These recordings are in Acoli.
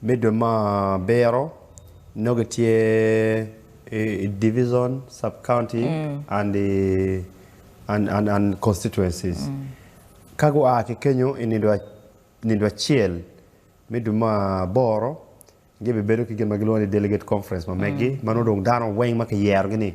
Middle ma biro nongo tye i division, sub-county and constituencies. Ka gua ki kenyo i nido acel, middle ma aboro gibibedo ki gin ma gilwongo ni delegate conference ma meggi ma nongo dong dano weng ma kiyerogi-ni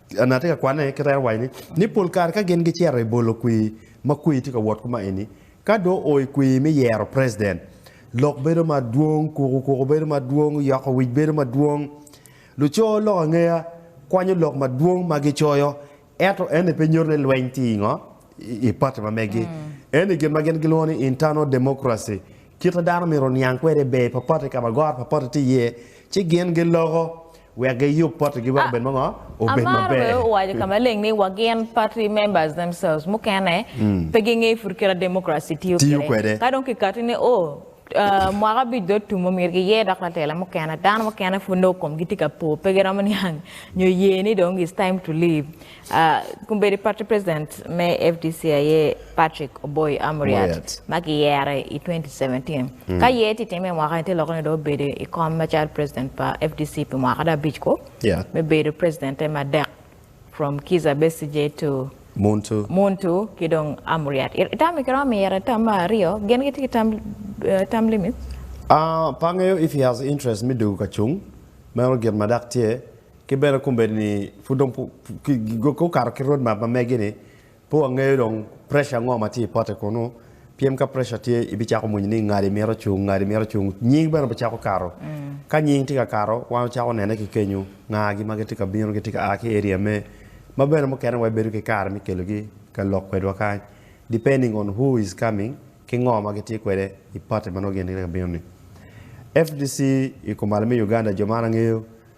An atye ka kwane kit aye waco ni pol kare ka gin gicito i bolo kwir ma kwir tye ka wot kuma eni, ka dong oo i kwir me yero president, lok bedo madwong, kuku kuku bedo madwong, yoko wic bedo madwong. Luco lok angeya kwanyo lok madwong ma gicoyo, ento eni pe nyuto ni lweny tye i ngo? i pati ma megi. Eni gin ma gin gilwongo ni internal democracy, kite dano myero oniang kwede i ber pa pati ka ma goro pa pati tye iye, ci gin giloko. Wek giyub potigi wek obed mo obed Amara bene maber. owaco ka maleng ni wa gin party members themselves mukene pe gingeyo pud kit ma democracy tiyo Tiyo kwede. kwede. Ka dong kikati ni o ah, mwaka abic dong otum omyero giyer dok latela mukene. Dano mukene pud nongo komgi tye ka po pe giromo niang nyo ye ni dong it's time to leave. Kombeddi Party President me fdc aye Patrick Oboi Amuriat ma kiyere i 2017. Ka yer tye timme i mwaka-ni, tye lok ni dong obedo i kom macalo President pa fdc pi mwaka dong abic kwo me bedo President-te madek from Kizza Besigye to Muntu ki dong Amuriat. Itam-mi kiromo miyete tam me aryo, gin gitye ki term limits? Pe angeyo if he has interest me dugu ka cung, meno gin ma dok tye. Ki bene kombeddi ni pud dong gukato ki road map ma megi ni pe wangeyo dong pressure ango ma tye i pote kunu pien ka pressure tye ibicako mony ni ngadi mito ocung ngadi mito ocung nying bene obicako kato ka nying tye ka kato wan wacako nene ki kenyu nga gi ma gitye ka bino gitye ka a ki area me ma bene mukene wa ibedo ki kare me kelo gi ka lok kwedwa kany depending on who is coming ki ngo ma gitye kwede i pote ma nongo gin gitye ka bino ni. FDC i kumalo me Uganda jo man angeyo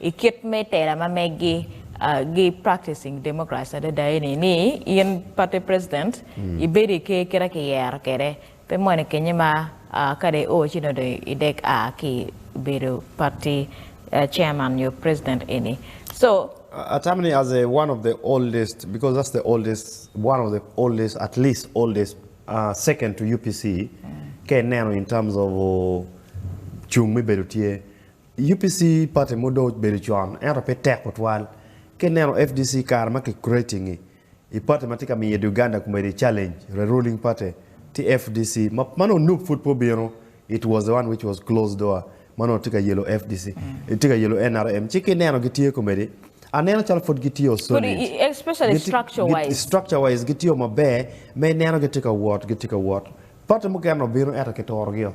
I kit me tela ma megi, gi practicing democracy adada eni ni in party president ibedo i ker kit ma ki yero kwede pe mwene kenye ma ka dong i o ci dong idek a ki i bedo party chairman nyo president eni so. I tamo ni as a one of the oldest because that's the oldest one of the oldest at least oldest second to UPC ka ineno in terms of cung me bedo tye UPC party mo dong obedo con ento pe tek tutwal ka ineno fdc kare ma ki creating i i party ma tye ka miyo Uganda kumedi challenge the ruling party tye fdc ma ma nongo Nup pud pe obino it was the one which was closed door ma nongo tye ka yelo fdc tye ka yelo nrm ci ka ineno gitye kumedi aneno calo pud gitye solid Kodi especially gitye structure gitye wise. structure wise gitye maber ma ineno gitye ka wot gitye ka wot party mukene obino ento kituro gi o.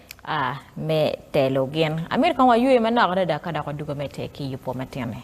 a me telo gin. Amito kong waywe manok adada ka dok wadugo me te ki yupo matini.